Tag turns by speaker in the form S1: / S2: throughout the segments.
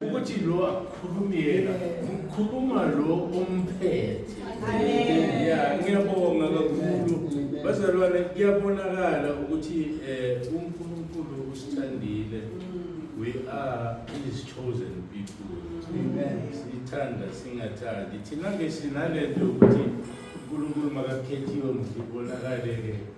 S1: ukuthi lo akhulumi yena ukhuluma lo omphethe ya ngiyabonga kakhulu bazalwane kuyabonakala ukuthi um unkulunkulu usithandile we are his chosen people sithanda singathandi thina-ke sinale nto yokuthi unkulunkulu makakhethiwe mhlibonakale-ke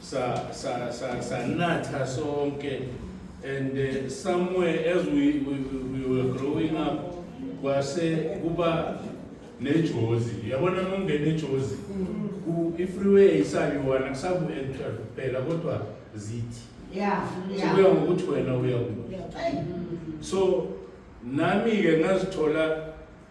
S1: sa sa sa sanatha sonke and uh, somewhere as we, we, we were growing up kwase kuba nejozi yabona mongena ejozi mm. ifreeway isabiwana kusabu enter kuphela kodwa zithi yeah, yeah. so kuya ngokuthi wena uya so nami-ke ngazithola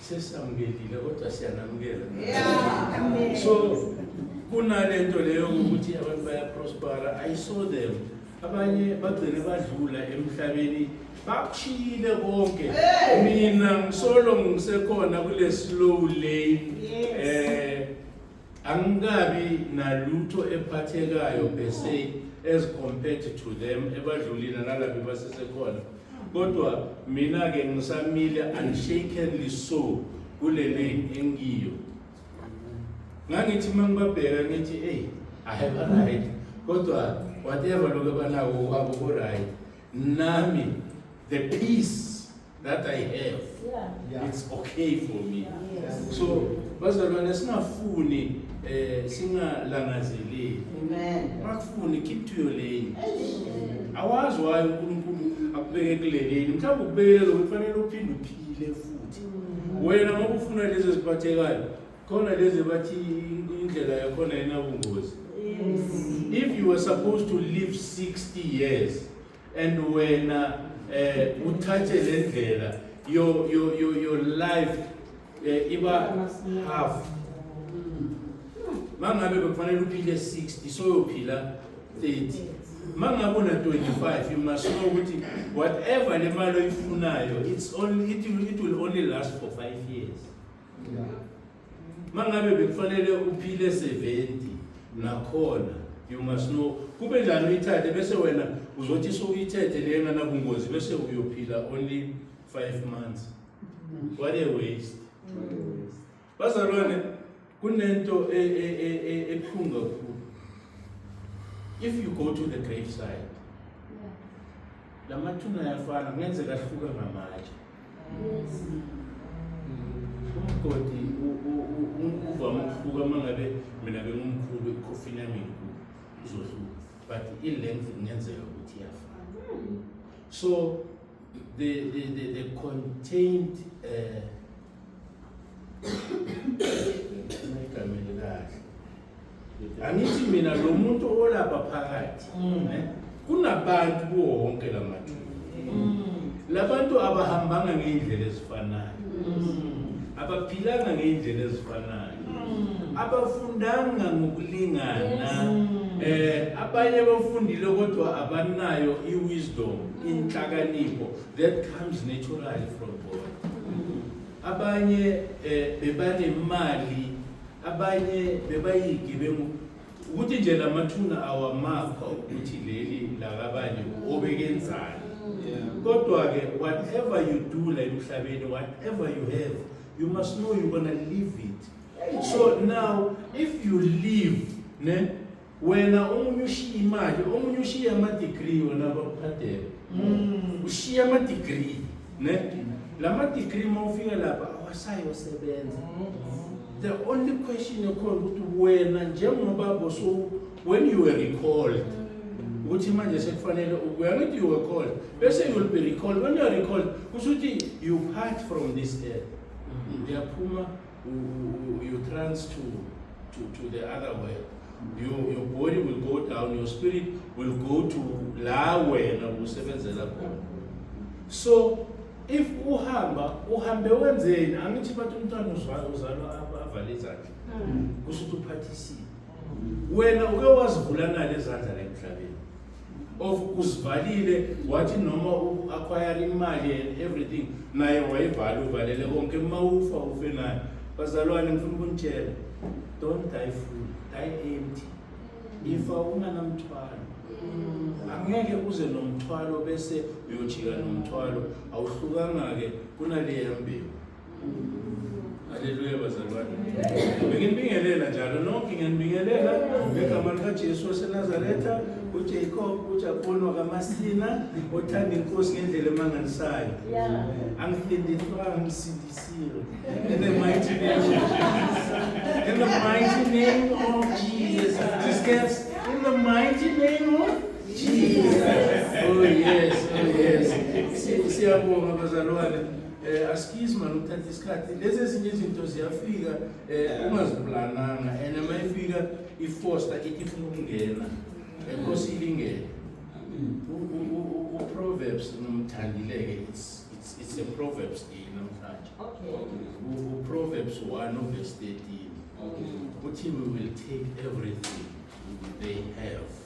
S1: sesamukelile kodwa siyanamukela yeah. so kunalento leyo ukuthi abantu bayaprospera i saw them abanye bagcine badlula emhlabeni bakushiyile konke mina ngisolo ngisekhona kule slow lane eh Angikabi nalutho ephathekayo per se as compared to them ebadlulile nalapho basesekhona. Kodwa mina ke ngisamile unshakenly so kule lane engiyo. Ngangithi uma ngibabheka ngithi hey I have a right kodwa whatever lokho banako kwabo ku right nami the peace that I have yeah. it's okay for me yes. so bazalwane singafuni eh singalangazeleli amen makufuni keep to your lane awazi wayo uNkulunkulu akubeke kuleleni mhlawumbe ukubekela lokho kufanele uphinde uphile futhi mm. wena ngoba ufuna lezi eziphathekayo khona lezi bathi indlela yakhona inabungozi if you were supposed to live 60 years and wena eh uthathe le ndlela your your your your life eh, iba half mangabe bekufanele uphile 60 soyophila 30 mangabe una 25 you must know ukuthi whatever le mali oyifunayo it's only it will, it will only last for 5 years yeah. mangabe bekufanele uphile 70 nakhona you must know kube njani uyithathe bese wena uzothi sowuyithethe le nganabungozi bese uyophila only 5 months what a waste bazalwane kunento e, e, e, ebuhlungu kakhulu if you go to the grave side la mathuna ayafana kungenzeka ahluka ngamatshe umgodi uvame ukuhluka uma ngabe mina bengumkhulu ikhofini yami inkulu izohluka but i-length kungenzeka ukuthi iyafana so the, the, the, the contained uh, angithi mina lo muntu olapha phakathi mm. eh, kunabantu kuwo wonke la mathuna mm. labantu abahambanga ngey'ndlela ezifanayo mm. abaphilanga ngey'ndlela ezifanayo abafundanga ngokulingana eh abanye bafundile kodwa abanayo i-wisdom inhlakanipho that comes naturally from God abanye eh, bebanemali Abanye bebayigebengu ukuthi nje la mathuna awamakho ukuthi leli lakabanye obekenzani kodwa-ke whatever you do la emhlabeni whatever you have you must know you're gonna leave it so now if you leave ne wena omunye ushiye imali omunye ushiye ama-degree wena bakuphadela mm. ushiye ama-degree ne la ma-degree uma ufika lapha awasayosebenza mm. the only question ekhona ukuthi wena njengoba boso when you were recalled mm. ukuthi manje sekufanele ukuya ngithi you were called bese you will be recalled when you are recalled kusho ukuthi you part from this earth uyaphuma you trans to, to, to the other world your, your body will go down your spirit will go to la wena usebenzela khona so if uhamba uhambe wenzeni angithi bathi umntwana uzalwa uzalwa avale izandla hmm. kusho ukuthi uphathisile wena uke wazivula nani izandla la emhlabeni of uzivalile wathi noma u-acquire imali and everything naye wayivale uvalele konke uma ufa ufe naye bazalwane ngifuna ukunitshela don't die full die empty ifa unganamthwalo angeke uze nomthwalo bese uyojika nomthwalo awuhlukanga-ke kunaleya mbewu Haleluya bazalwane. Benginibingelela njalo nonke ngiyanibingelela ngegama likaJesu waseNazaretha, uJacob, uJabhoni wakaMasina, othanda inkosi ngendlela emangalisayo. Angifindiswa, angisindisiwe. In the mighty name of Jesus. In the mighty name of Jesus. Discuss. In the mighty name of Jesus. Oh yes, oh yes. Siyabonga bazalwane. Eh askies man uthatha isikhathi lezi ezinye izinto ziyafika eh ungaziplananga and uma ifika ifoster ithi ifuna ukungena enkosi ilingene uproverbs nomthandileke it's it's it's a proverbs day namhlanje okay uproverbs 1 of verse 13 okay uthi we will take everything they have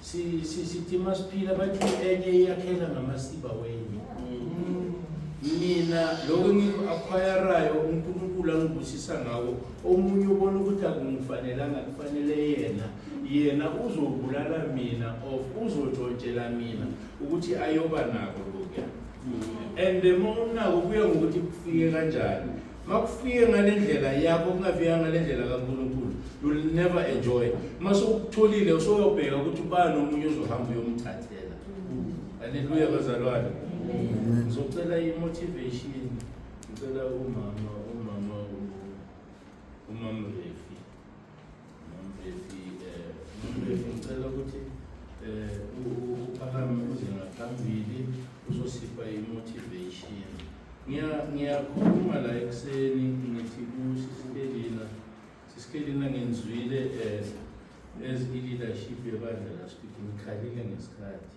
S1: si si sithi masiphila bathi enye iyakhela ngamasiba wenye mina lokho engiku-akhwayarayo unkulunkulu angibusisa ngawo omunye ubona ukuthi akungifanelanga kufanele yena yena uzobulala mina of uzotshontshela mina ukuthi ayoba nako lokuya and the more unako kuya ngokuthi kufike kanjani uma kufike ngale ndlela yakho kungafika ngale ndlela kankulunkulu you'll never enjoy uma sowukutholile usoyobheka ukuthi ubani omunye uzohamba uyomthathela aleluya bazalwane ngizocela i-motivation ngicela umama umama umama refi ngicela ukuthi um uphakame uze ngaphambili uzosipha i-motivation ngiyakhuluma la ekuseni ngithi kusisikelina sisikelina ngenzwile um as i-leadership yebandla laspiki ngikhalile ngesikhathi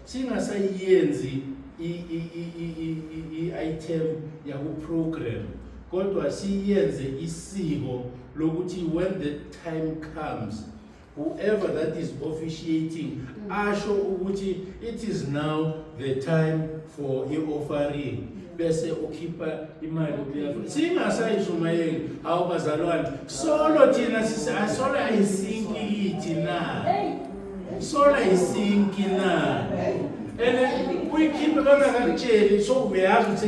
S1: singasayenzi i-item yaku-program kodwa siyenze isiko lokuthi when the time comes whoever that is officiating mm. asho ukuthi it is now the time for i-offering bese ukhipha imali kuleyo singasayishumayeli awubazalwane solo thina sisolo ayisinki kithi na Sola isinki na. Ene uyikhiphe kona kakutsheli so uyazi ukuthi